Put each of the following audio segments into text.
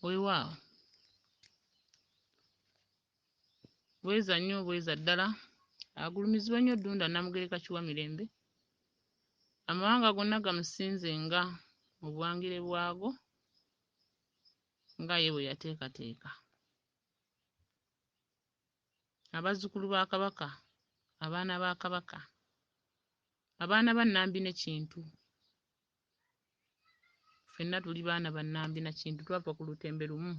weewaawo bweza nnyo bweza ddala agulumizibwa nnyo ddunda namugereka kiwa mirembe amawanga gonna gamusinze nga mu buwangire bwago nga ye bwe yateekateeka abazzukulu ba kabaka abaana ba kabaka abaana ba nambi ne kintu ffenna tuli baana ba Nambi na Kintu, twava ku lutembe lumu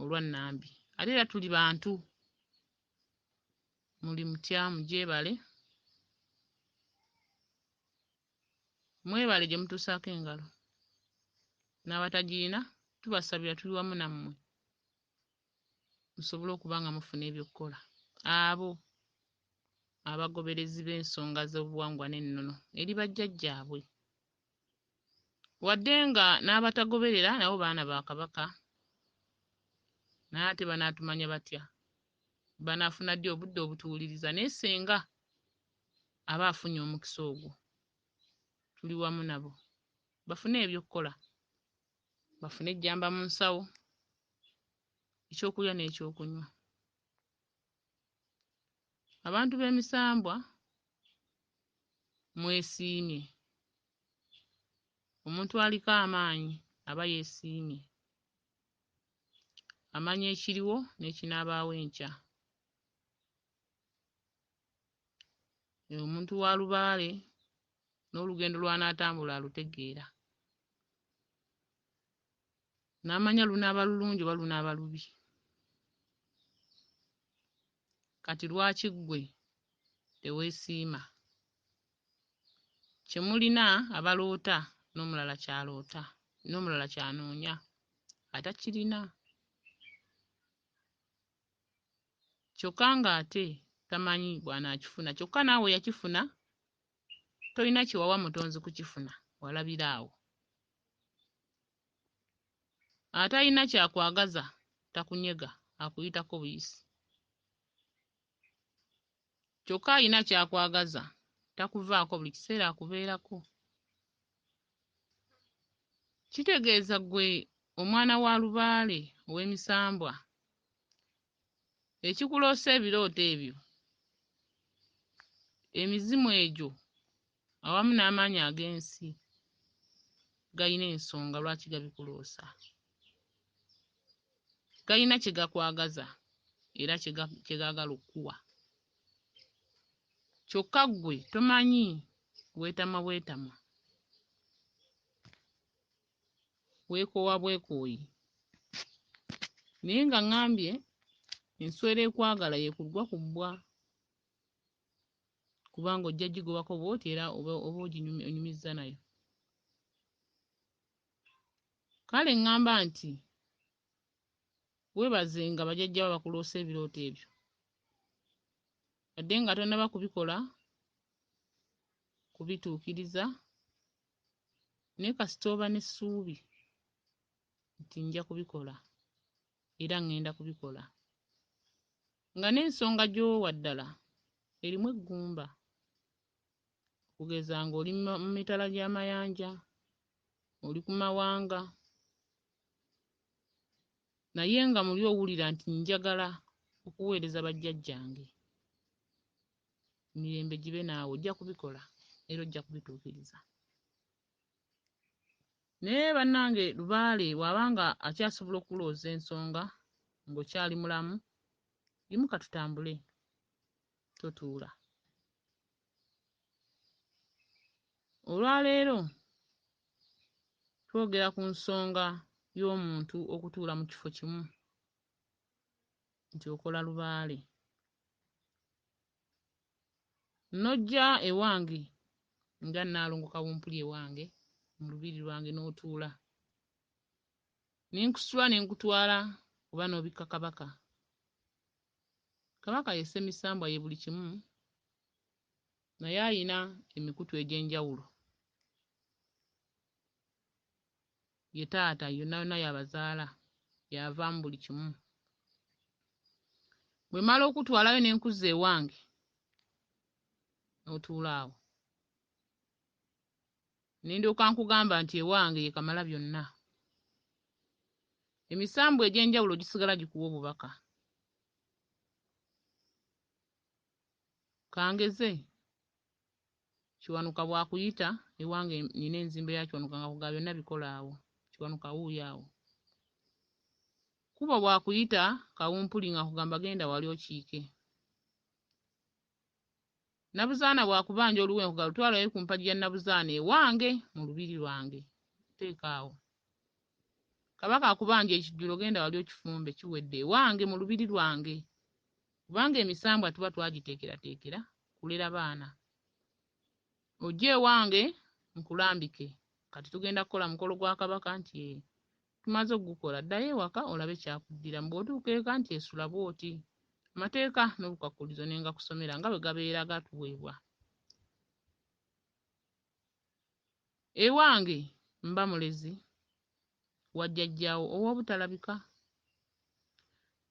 olwa Nambi. Ate era tuli bantu, muli mutya, mugyebale, mwebale gye mutuusaako engalo, n'abatagirina tubasabira, tuli wamu nammwe. musobole okuba nga mufuna ebyokukola abo abagoberezi b'ensonga z'obuwangwa n'ennono eri bajjajjaabwe wadde nga n'abatagoberera nabo baana ba Kabaka naye ate banaatumanya batya banaafuna ddi obudde obutuwuliriza naye senga aba afunye omukisa ogwo tuli wamu nabo bafune ebyokukola bafune ejjamba mu nsawo ekyokulya n'ekyokunywa abantu b'emisambwa mwesiimye omuntu aliko amaanyi aba yeesiimye amanya ekiriwo n'ekinaabaawo enkya omuntu wa lubaale n'olugendo lw'anaatambula alutegeera n'amanya lunaaba lulungi oba lunaaba lubi kati lwaki ggwe teweesiima kye mulina abaloota n'omulala ky'aloota n'omulala ky'anoonya atakirina kyokka ng'ate tamanyi bw'anaakifuna kyokka naawe yakifuna tolina kye wawa mutonzi kukifuna walabira awo atalina kyakwagaza takunyega akuyitako buyisi kyokka alina ky'akwagaza takuvaako buli kiseera akubeerako kitegeeza ggwe omwana wa lubaale ow'emisambwa ekikuloosa ebirooto ebyo emizimu egyo awamu n'amaanyi ag'ensi galina ensonga lwaki gabikuloosa. Galina kye gakwagaza era kye gaagala okukuwa. Kyokka ggwe tomanyi, weetamwa bwetamwa, weekoowa bwekooyi. Naye nga ŋŋambye enswera ekwagala yeekuggwa ku bbwa. kubanga ojja gigobako bwoti era oba oginyumizza nayo kale ŋŋamba nti weebaze nga bajajja ba bakuloosa ebirooto ebyo wadde nga tonnaba kubikola kubituukiriza naye kasita oba n'essuubi nti nja kubikola era ngenda kubikola nga n'ensonga gy'owa ddala erimu eggumba okugeza ng'oli mu mitala gy'amayanja oli ku mawanga naye nga muli owulira nti njagala okuweereza bajjajjange mirembe gibe naawe ojja kubikola era ojja kubituukiriza. naye bannange lubaale bw'aba nga akyasobola okukulooza ensonga ng'okyali mulamu yimuka tutambule totuula olwaleero twogera ku nsonga y'omuntu okutuula mu kifo kimu nti okola lubaale N'ojja ewange nga Nnaalongo Kawumpuli ewange mu lubiri lwange n'otuula, ne nkusitula ne nkutwala oba n'obikka Kabaka. Kabaka ye Ssemisambwa ye buli kimu naye alina emikutu egy'enjawulo. Ye taata yona yona yabazaala yava mubuli kimu bwemala okutwalayo nenkuzza ewange notuula awo nendyoka nkugamba nti ewange ye kamala byonna emisambwa egyenjawulo gisigala gikuwa obubaka kangeze Kiwanuka bwakuyita ewange nina enzimba ya Kiwanuka nga kuga byonna bikola awo Kiwanuka wuuyo awo Kubo bwakuyita kawumpuli nga kugamba genda wali okiike Nabuzaana bwakubanja oluwe nkuga lutwala we ku mpagi ya Nabuzaana ewange mu lubiri lwange teeka awo Kabaka akubanja ekijjulo genda wali okifumbe kiwedde ewange mu lubiri lwange kubanga emisambwa tuba twagiteekerateekera kulera baana. Ojje ewange nkulambike. Kati tugenda kukola mukolo gwa Kabaka nti ee. Tumaze okugukola. Ddayo ewaka olabe kyakuddiramu. Bw'otuuka eka nti esula bw'oti. Amateeka n'obukwakkulizo ne ngakusomera nga bwe gabeera gatuweebwa. Ewange mba mulezi wa jjajjaawo ow'obutalabika.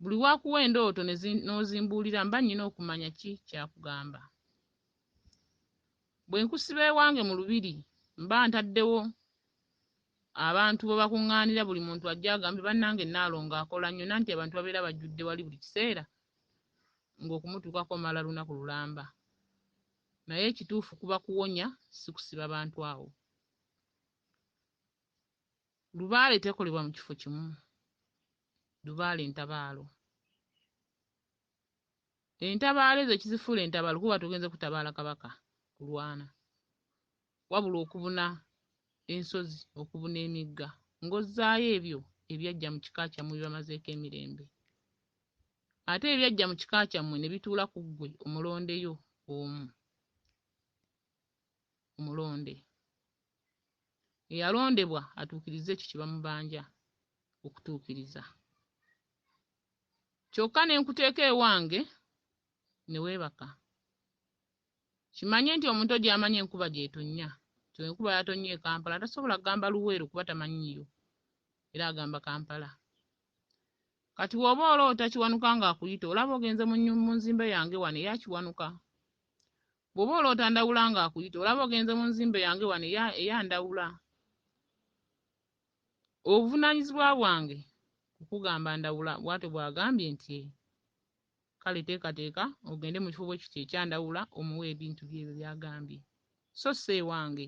Buli w'akuwa endooto n'ozimbuulira mba nnina okumanya ki ky'akugamba. Bwe nkusiba ewange mu lubiri mba ntaddewo abantu bwe bakuŋŋaanira buli muntu ajje agambe bannange Nnaalongo akola nnyo nanti abantu babeera bajjudde wali buli kiseera ng'okumutuukako omala lunaku lulamba. Naye ekituufu kuba kuwonya si kusiba bantu awo. Lubaale tekolebwa mu kifo kimu. Lubaale ntabaalo. Entabaalo ezo ekizifuula entabaalo kuba tugenze kutabaala Kabaka kulwana. Wabula okubuna ensozi, okubuna emigga, ng'ozzaayo ebyo ebyajja mu kika kyammwe bibamazeeko emirembe. Ate ebyajja mu kika kyammwe ne bituula ku ggwe omulondeyo omu. Omulonde. Eyalondebwa atuukirize ekyo kye bamubanja okutuukiriza. Kyokka ne nkuteeka ewange ne weebaka. Kimanye nti omuntu ojo amanyi enkuba gyetonnya nti enkuba yatonnya e Kampala tasobola gamba Luweero kuba tamanyiiyo era agamba Kampala. Kati woba oloota Kiwanuka nga akuyita olaba ogenze mu nzimbe yange wano eya Kiwanuka? Bwoba oloota Ndawula nga akuyita olaba ogenze mu nzimbe yange wano eya Ndawula? Obuvunanyizibwa bwange kukugamba Ndawula bwatyo bwagambye nti. Kale teekateeka ogende mu kifo bwe kityo ekya Ndawula omuwe ebintu bye ebyo by'agambye, so si ewange.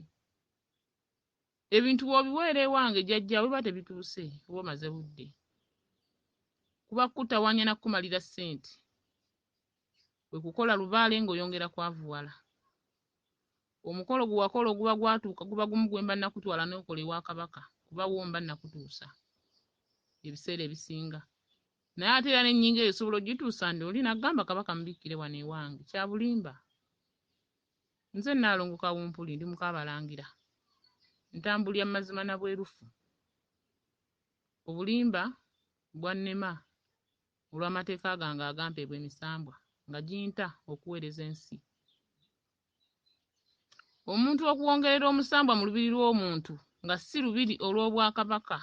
Ebintu bw'obiweera ewange jjajja wo biba tebituuse, oba omaze budde. Kuba kukutawaanya na kukumalira ssente. Kwe kukola lubaale ng'oyongera kwavuwala. Omukolo gwe wakola oguba gwatuuka guba gumu gwe mba nakutwala n'okola ewa Kabaka kuba wo mba nakutuusa ebiseera ebisinga. Naye ate era n'ennyingo eyo osobola ogituusa ndi oli nagamba Kabaka mubikkire wano ewange. Kya bulimba. Nze Nnaalongo Kawumpuli ndi muka Abalangira. Ntambulira mu mazima na bwerufu. Obulimba bwannema olw'amateeka gange agampeebwa emisambwa nga ginta okuweereza ensi. omuntu okuwongerera omusambwa mu lubiri lw'omuntu nga si lubiri olw'obwakabaka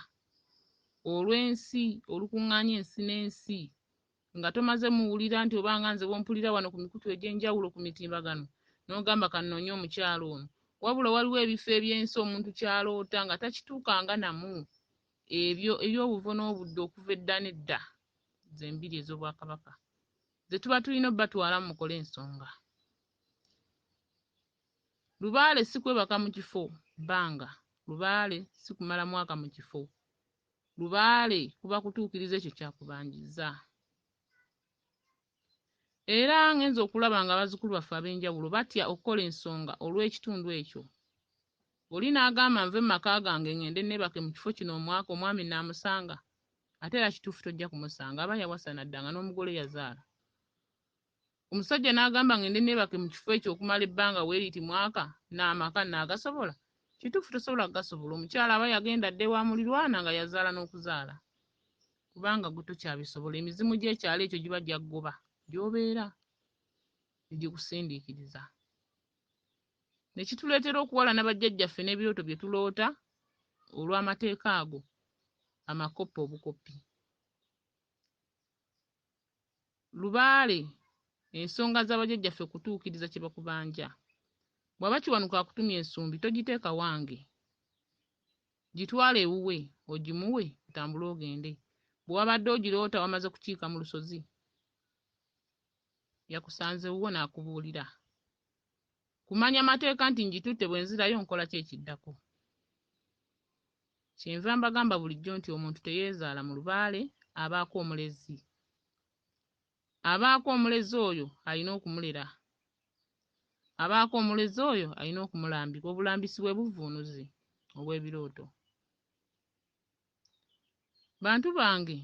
olw'ensi olukuŋŋaanya ensi n'ensi nga tomaze muwulira nti oba nga nze bwompulira wano ku mikutu egy'enjawulo ku mitimbagano n'ogamba kannoonye omukyalo ono wabula waliwo ebifo eby'ensi omuntu kyaloota nga takituukanga namu ebyo eby'obuvo n'obudde okuva edda n'edda zembiri ez'obwakabaka ze tuba tulina obatwala mu mukole ensonga Lubaale si kwebaka mu kifo bbanga, lubaale si kumala mwaka mu kifo, lubaale kuba kutuukiriza ekyo ky'akubanjizza. Era ngenze okulaba nga bazzukulu baffe ab'enjawulo batya okukola ensonga olw'ekitundu ekyo. Oli n'agamba nve mu maka gange ngende neebake mu kifo kino omwaka omwami naamusanga? Ate era kituufu tojja kumusanga, aba yawasa n'adda nga n'omugole yazaala. omusajja n'agamba ng'ende neebake mu kifo ekyo okumala ebbanga weeriti mwaka n'amaka nnaagasobola? Kituufu tosobola kugasobola. Omukyala aba yagenda adda ewa mulirwana nga yazaala n'okuzaala kubanga gwe tokyabisobola. Emizimu gy'ekyalo ekyo giba gyaggoba gy'obeera ne gikusindiikiriza ne kituleetera okuwalana bajjajjaffe n'ebirooto bye tuloota olw'amateeka ago amakoppa obukoppi. Lubaale, Ensonga za bajjajjaffe kutuukiriza kye bakubanja. Bw'aba Kiwanuka akutumye ensumbi togiteeka wange. Gitwale ewuwe ogimuwe otambule ogende. Bwe wabadde ogiroota wamaze kukiika mu lusozi, yakusanze wuwo n'akubuulira. kumanya mateeka nti ngitutte bwe nzirayo nkola ki ekiddako. Kyenva mbagamba bulijjo nti omuntu teyeezaala mu lubaale abaako omulezi. Abaako omulezi oyo alina okumulera. Abaako omulezi oyo alina okumulambika obulambisi bwe buvvuunuzi obw'ebirooto. Bantu bange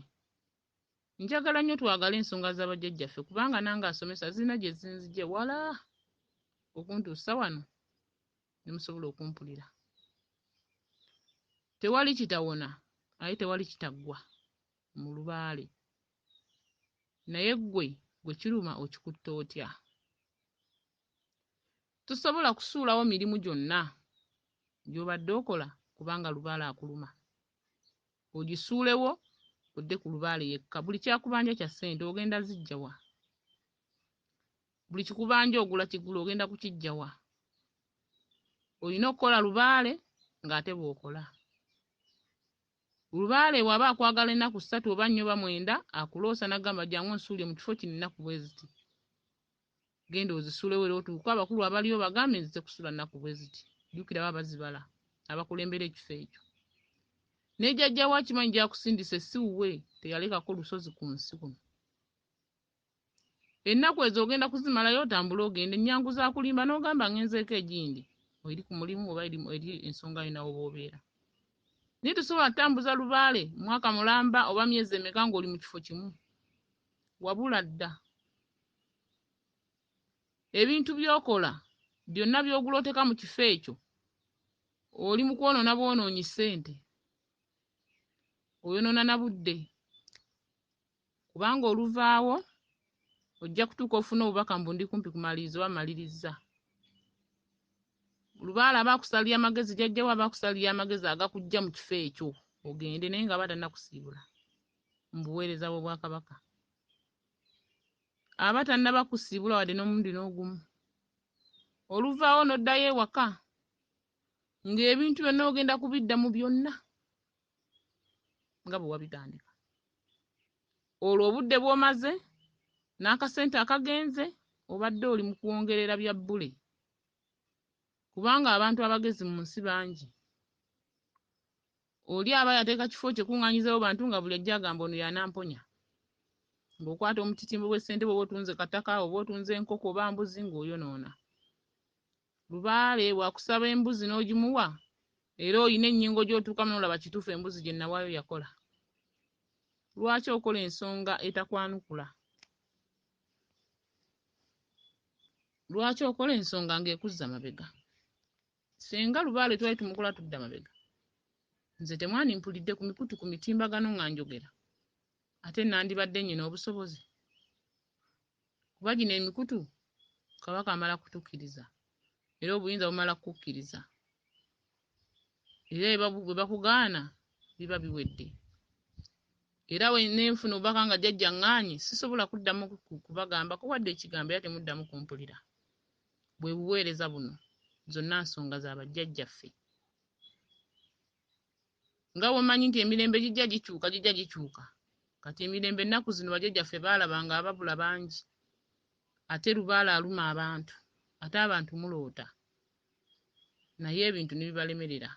Njagala nnyo twagale ensonga za bajjajjaffe kubanga nange asomesa zirina gye zinzigye wala okuntuusa wano ne musobola okumpulira. Tewali kitawona aye tewali kitaggwa mu lubaale. Naye ggwe gwe kiruma okikutte otya? Tosobola kusuulawo mirimu gyonna gy'obadde okola kubanga lubaale akuluma. ogisuulewo odde ku lubaale yekka buli kyakubanja kya ssente ogenda zijjawa buli kikubanja ogula kigula ogenda kukijjawa olina okukola lubaale ng'ate bw'okola lubaale waba akwagala ennaku ssatu oba nnya oba mwenda akuloosa n'agamba jangu nsuulire mu kifo kino ennaku bwe ziti genda ozisulewo era otuuke abakulu abaliyo bagambe nze kusula nnaku bwe ziti jjukira baba bazibala abakulembera ekifo ekyo ne jajja we akimanyi gyakusindise si wuwe teyalekako lusozi ku nsi kuno ennaku ezo ogenda kuzimalayo otambule ogende ennyangu za kulimba n'ogamba ngenzeeko egindi eri ku mulimu oba eri ensonga yo nawe oba obeera naye tosobola kutambuza lubaale mwaka mulamba oba myezi emeka ng'oli mu kifo kimu wabula dda ebintu by'okola byonna by'ogula oteeka mu kifo ekyo oli mu kwonoona bwonoonyi ssente oyonoona na budde kubanga oluvaawo ojja kutuuka ofuna obubaka mbu ndi kumpi kumaliriza oba malirizza lubaala aba akusalira amagezi jajjawo aba akusalira amagezi agakujja mu kifo ekyo ogende naye nga aba tannakusiibula mu buweereza bw'obwakabaka aba tannaba kusiibula wadde n'omulundi n'ogumu oluvaawo n'oddayo ewaka ng'ebintu byonna ogenda kubidda mu byonna nga bwe wabitandika olwo obudde bw'omaze n'akasente akagenze obadde oli mu kwongerera bya bbule kubanga abantu abagezi mu nsi bangi Oli aba yateeka kifo kye kuŋŋaanyizawo bantu nga buli ajja agamba ono y'anamponya. Ng'okwata omutitimbo bw'essente bw'oba otunze kataka oba otunze enkoko oba mbuzi ng'oyonoona. Lubaale bw'akusaba embuzi n'ogimuwa era olina ennyingo gy'otuukamu n'olaba kituufu embuzi gye nawaayo yakola. Lwaki okola ensonga etakwanukula? Lwaki okola ensonga ng'ekuzza mabega? Ssenga Lubaale twali tumukola tudda mabega. Nze temwandimpulidde ku mikutu ku mitimbagano nga njogera. Ate nandibadde nnyina obusobozi? Kuba gino emikutu Kabaka amala kutukiriza era obuyinza bumala kukukkiriza. Era bwe bakugaana biba biwedde. Era ne nfuna obubaka nga jjajja ŋŋaanyi sisobola kuddamu kubagambako wadde ekigambo era temuddamu kumpulira. bwe buweereza buno zonna nsonga za bajjajjaffe. Nga bw'omanyi nti emirembe gijja gikyuka gijja gikyuka. Kati emirembe ennaku zino bajjajjaffe baalaba nga ababula bangi ate lubaale aluma abantu ate abantu muloota naye ebintu ne bibalemerera.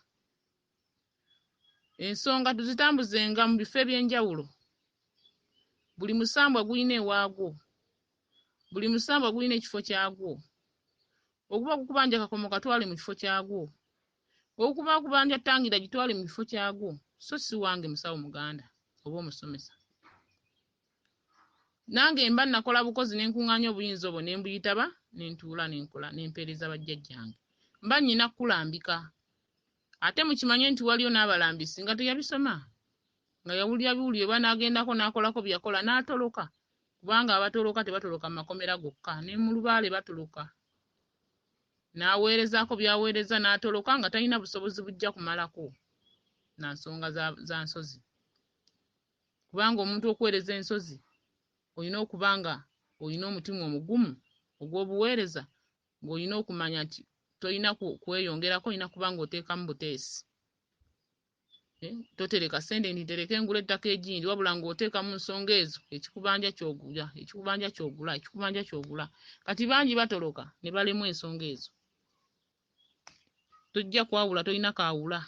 Ensonga tuzitambuzenga mu bifo eby'enjawulo. Buli musambwa gulina ewaagwo. Buli musambwa gulina ekifo kyagwo. Oguba gukubanja kakomo katwale mu kifo kyagwo. Okuba akubanja ttangira gitwale mu kifo kyagwo so si wange musawo muganda oba omusomesa. Nange mba nakola bukozi ne nkuŋŋaanya obuyinza obwo ne mbuyitaba ne ntuula ne nkola ne mpeereza bajjajjange. Mba nnina kukulambika. Ate mukimanye nti waliyo n'abalambi singa teyabisoma nga yawulira biwulire oba n'agendako n'akolako bye yakola n'atoloka kubanga abatoloka tebatoloka mu makomera gokka ne mu lubaale batoloka n'aweerezaako by'aweereza n'atoloka nga talina busobozi bujja kumalako na nsonga za nsozi kubanga omuntu okuweereza ensozi olina okuba nga olina omutima omugumu ogw'obuweereza ng'olina okumanya nti tolina kweyongerako olina kuba ng'oteekamu buteesi eh, totereka sente nti tereka engula ettaka egindi wabula ng'oteeka mu nsonga ezo ekikubanja kyogula ekikubanja kyogula ekikubanja kyogula kati bangi batoloka ne balemwa ensonga ezo tojja kwawula tolina kaawula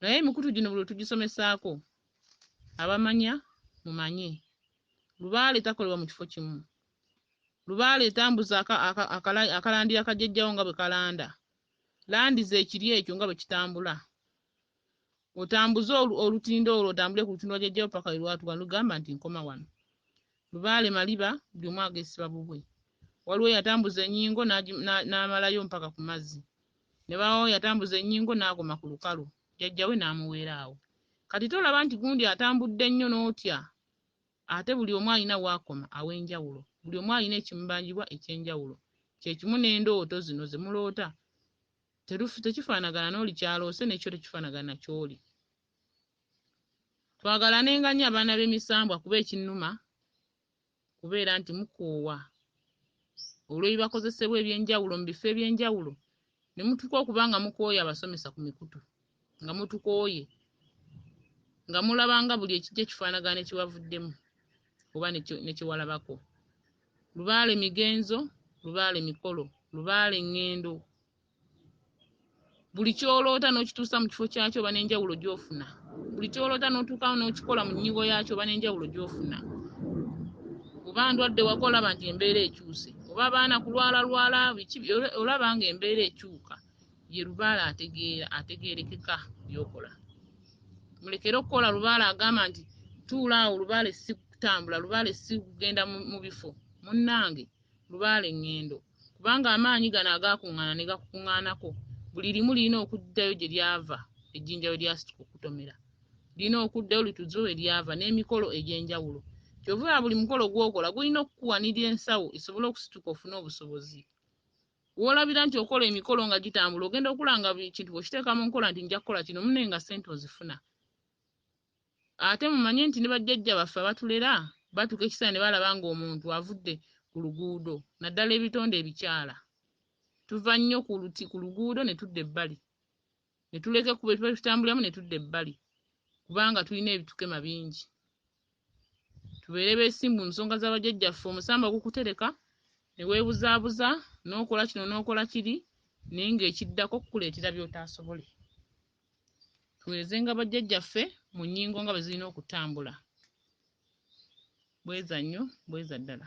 naye emikutu gino buli tugisomesaako abamanya mumanye lubaale takolebwa mu kifo kimu lubaale etambuza akalandiya kajjajjawo nga bwe kalanda landi zekiri ekyo nga bwe kitambula otambuze olutindo olwo otambule ku lutindo lwa jjajjawo paka lwelwatuka lugamba nti nkoma wano Lubaale maliba buli omu agesiba bubwe. Waliwo eyatambuza enyingo n'amalayo mpaka ku mazzi. Ne bawawo yatambuza enyingo n'agoma ku lukalu, jajja we n'amuweera awo. Kati tolaba nti gundi atambudde nnyo n'otya? Ate buli omu alina w'akoma aw'enjawulo. Buli omu alina ekimubanjibwa eky'enjawulo. Kye kimu n'endooto zino ze muloota. Tekifaanagana n'oli ky'aloose ne kyo tekifaanagana na ky'oli. twagalanenga nnyo abaana b'emisambwa kuba ekinnuma kubeera nti mukoowa olw'ebibakozesebwa eby'enjawulo mu bifo eby'enjawulo ne mutuuka okuba nga mukooye abasomesa ku mikutu nga mutukooye nga mulaba nga buli ekijja kifaanagana ne kiwavuddemu oba ne kiwalabako lubaale migenzo lubaale mikolo lubaale ŋŋendo buli kyoloota n'okituusa mu kifo kyakyo oba n'enjawulo gy'ofuna buli kyoloota n'otuukawo n'okikola mu nnyigo yaakyo oba n'enjawulo gy'ofuna oba ndwadde waka olaba nti embeera ekyuse oba abaana kulwala lwala biki olaba nga embeera ekyuka ye lubaala ategeera ategeerekeka byokola mulekere okukola lubaala agamba nti tuula awo lubaale si kutambula lubaale si kugenda mu bifo munnange Lubaale Ngendo kubanga amaanyi gano agaakungaana ne gakukungaanako buli limu lirina okuddayo gye lyava ejjinja we lyasituka okutomera lirina okuddayo lituze we lyava n'emikolo egy'enjawulo kyova buli mukolo gw'okola gulina okukuwanirira ensawo esobole okusituka ofune obusobozi w'olabira nti okola emikolo nga gitambula ogenda okulanga buli kintu bw'okiteeka mu nkola nti nja kukola kino mune nga ssente ozifuna Ate mumanye nti ne bajjajja baffe abatulera batuuka ekiseera ne balaba ng'omuntu avudde ku luguudo naddala ebitonde ebikyala. Tuva nnyo ku luti ku luguudo ne tudda ebbali ne tuleka ekkubo lye tubadde tutambuliramu ne tudda ebbali kubanga tulina ebitukema bingi. Tubeere beesimbu mu nsonga za bajjajjaffe omusamba gukutereka ne weebuzaabuza n'okola kino n'okola kiri naye ng'ekiddako kukuleetera by'otaasobole. tuwerezenga bajjajjaffe mu nnyingo nga bwe zirina okutambula. Bweza nnyo, bweza ddala.